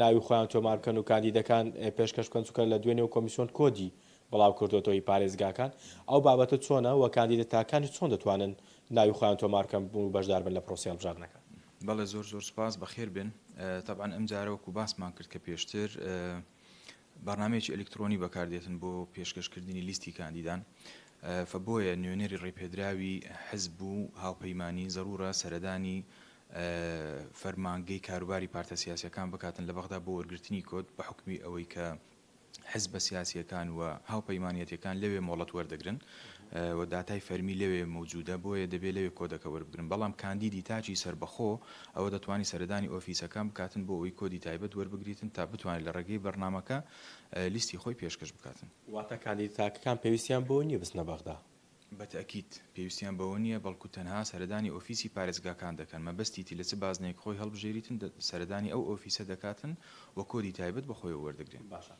ناوی خۆیان تۆمار بکەن و کاندیدەکان پێشکەش بکەن چونکە لە دوێنێ و کۆمیسیۆن کۆدی بڵاو کردۆتەوە ی پارێزگاکان ئەو بابەتە چۆنە وە کاندیدە تاکانیش چۆن دەتوانن ناوی خۆیان تۆمار بکەن و بەشدار بن لە پرۆسەی هەڵبژاردنەکە؟ بەڵێ زۆر زۆر سوپاس بەخێر بێن تەبعەن ئەمجارە وەکو باسمان کرد کە پێشتر بەرنامەیەکی ئەلیکترۆنی بەکاردێتن بۆ پێشکەش کردنی لیستی کاندیدان فە بۆیە نوێنەری ڕێپێدراوی حزب و هاوپەیمانی زەرورە سەردانی فەرمانگەی کاروباری پارتە سیاسیەکان بکاتن لە بەغدا بۆ وەرگرتنی کۆد بە حوکمی ئەوەی کە حزبە سیاسیەکان و هاوپەیمانەتەکان لەوێ مۆڵەت وەردەگرن و داتای فەرمی لەوێ مەوجودە، بۆیە دەبێ لەوێ کۆدەکە وەربگرن، بەڵام کاندیدی تاکی سەربەخۆ ئەوە دەتوانی سەردانی ئۆفیسەکان بکاتن بۆ ئەوەی کۆدی تایبەت وەربگریتن تا بتوانێت لە ڕێگەی بەرنامەکە لیستی خۆی پێشکەش بکاتن. واتە کاندیدە تاکەکان پێویستیان بەوە نییە بچنە بەغدا؟ بە تەئکید پێویستیان بەوە نییە، بەڵکو تەنها سەردانی ئۆفیسی پارێزگاکان دەکەن، مەبەستی تی لە چ بازنەیەک خۆی هەڵبژێریتن سەردانی ئەو ئۆفیسە دەکاتن و کۆدی تایبەت بە خۆیەوە وەردەگرێ. باشە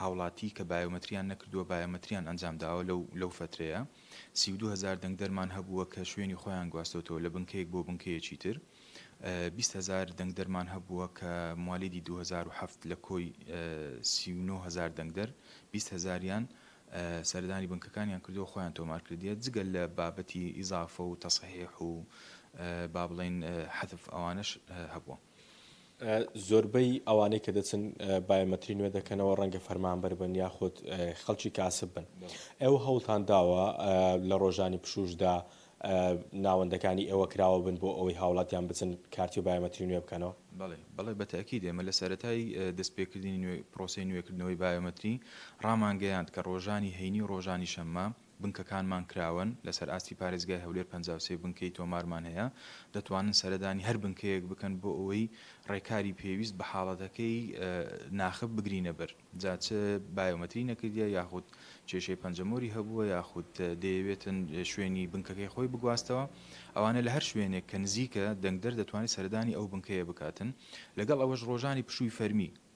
هاوڵاتی کە بایۆمەتریان نەکردووە بایۆمەتریان ئەنجامداوە لەو لەو فەترەیە سی و دوو هەزار دەنگدەرمان هەبووە کە شوێنی خۆیان گواستۆتەوە لە بنکەیەک بۆ بنکەیەکی تر بیست هەزار دەنگدەرمان هەبووە کە موالیدی دوو هەزار و حەفت لە کۆی سی و نۆ هەزار دەنگدەر بیست هەزاریان سەردانی بنکەکانیان کردو خۆیان تۆمار کردیە جگەل لە بابەتی ئیزافە و تەسحیح و با بڵێین حەذف ئەوانەش هەبووە. زۆربەی ئەوانەی کە دەچن بایۆمەتری نوێ دەکەنەوە ڕەنگە فەرمانبەر بن یاخود خەڵکی کاسب بن ئێوە هەوڵتان داوە لە ڕۆژانی پشوشدا ناوەندەکانی ئێوە کراوە بن بۆ ئەوەی هاوڵاتیان بچن کارتی و بایۆمەتری نوێ بکەنەوە بەڵێ بەڵێ بە تەئکید ئێمە لە سەرەتای دەستپێکردنی نوێ پرۆسەی نوێکردنەوەی بایۆمەتری ڕامانگەیاند کە ڕۆژانی هەینی و ڕۆژانی شەممە بنکەکانمان کراوەن، لەسەر ئاستی پارێزگای هەولێر پەنجا و سێ بنکەی تۆمارمان هەیە، دەتوانن سەردانی هەر بنکەیەک بکەن بۆ ئەوەی ڕێکاری پێویست بە حاڵەتەکەی ناخب بگرینە بەر، جا چ بایۆمەتری نەکردیە یاخود کێشەی پەنجەمۆری هەبووە یاخود دەیەوێتن شوێنی بنکەکەی خۆی بگواستەوە، ئەوانە لە هەر شوێنێک کە نزیکە دەنگدەر دەتوانێت سەردانی ئەو بنکەیە بکاتن، لەگەڵ ئەوەش ڕۆژانی پشووی فەرمی.